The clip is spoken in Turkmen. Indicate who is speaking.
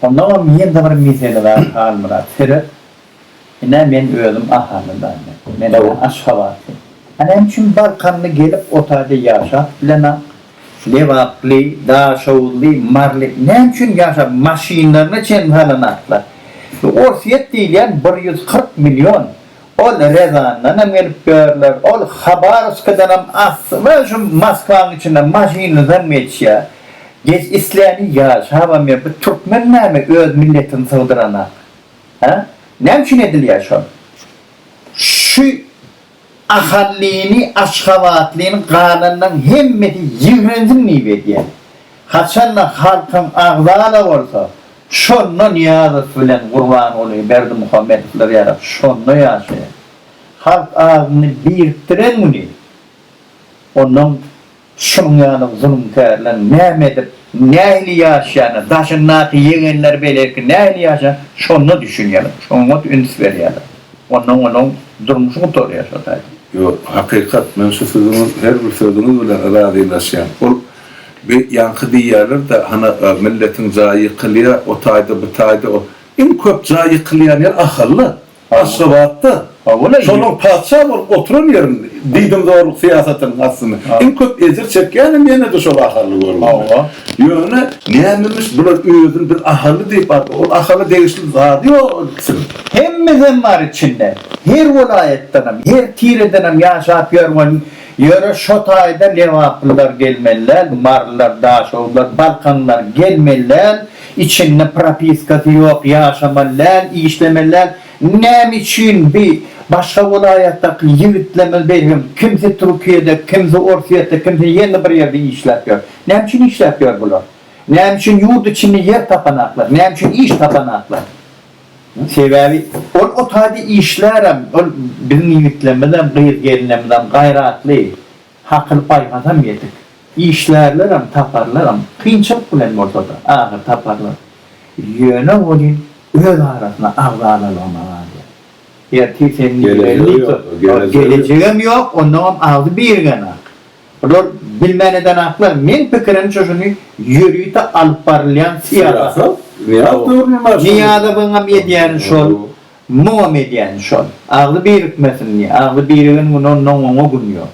Speaker 1: Onnoňam ýene-de bir mesele bar, Halmyrat, seret, ine, men özüm Ahalyndan, men aşgabatly. A näme üçin balkanly gelip o taýda ýaşap bilenok? Lebaply, daşoguzly, maryly näme üçin ýaşap, maşynlaryna çenli salanoklar? Orsýet diýilýän bir ýüz kyrk million Ol Rezandanam gelip ýörler, ol Habarowskadanam asly we şu Moskwanyň içinden maşynlydan geçýär. Geç isläni ýaşabam ýör. Bu türkmen näme öz milletini sygdyranak? Hä? Näme üçin edilýär şol? Şu ahallyny, aşgabatlyny galanlaryň hemmesi ýigrensin diýip edýär. Haçanda halkyň agzala bolsa, Şonda Nyýazow bilen Gurbanguly Berdimuhamedowlar ýa-da şonda ýaşaýan halk azyny birikdiren güni ondan şunuň ýaly zulumkärler näme edip, nähili ýaşaýany, daşyndaky ýegenleri beýleki nähili ýaşaýany şonda düşünýärler, şoňa üns berýärler. Ondan olaryň durmuşy gutarýar şo taýdan. Ýok, hakykat. Men şu siziň her bir sözüňiz bilen razylaşýan. Ol. Bi ýaňky diýýärler-de, hana, milletiň jaýy ýykylýa, o taýda, bu taýda, o. Iň köp jaý ýykylýan ýer Ahal-da, Aşgabat-da. Hawa-la. Şonuň patyşa bolup oturan ýerinde, diýdimzorluk syýasatynyň astynda iň köp ejir çekýänem ýene-de şol Ahally görüp. Hawa. Ýöne, nämemiş, bular özüni biz Ahally diýip aldy, ol Ahala degişli zady ýok ol ikisiniň. Hemmesem bar içinde. Her welaýatdanam, her tiredenem ýaşap ýörgen Ýöne şo taýda lebaplylar gelmeli däl, marylar, daşoguzlar, balkanlar gelmeli däl, içinde propiskasy ýok, ýaşamaly däl, işlemeli däl. Näme üçin bi başga welaýatdaky ýigitlerimiz belgim, kimsi Türkiýede, kimsi Orsýetde, kimsi ýene bir ýerde işläp ýör. Näme üçin işläp ýör bular? Näme üçin ýurt içinde ýer tapanaklar? Näme üçin iş tapanaklar? Sebäbi ol o taýda işlärem, ol biziň ýigitlerimizem, gyz-gelnemiz-em gaýratly, hakyly-paýhasam ýetik. Işlärlerem, taparlaram, kynçylyk bilen bolsa-da, ahyry taparlar. Ýöne welin öz arasyna agzalalygyna galýar. Ertir seni nireler diýip dursun. Gelejegem ýok, onnoňam agzy birgenak. Bular bilmän eden aklar meň pikirimçe şuny ýörite alyp barylýan syýasat Nyýazowyňam edýäni şol muňam edýäni şol agzy birikmesin diýe agzy birigen gün ondan oňa gün ýok.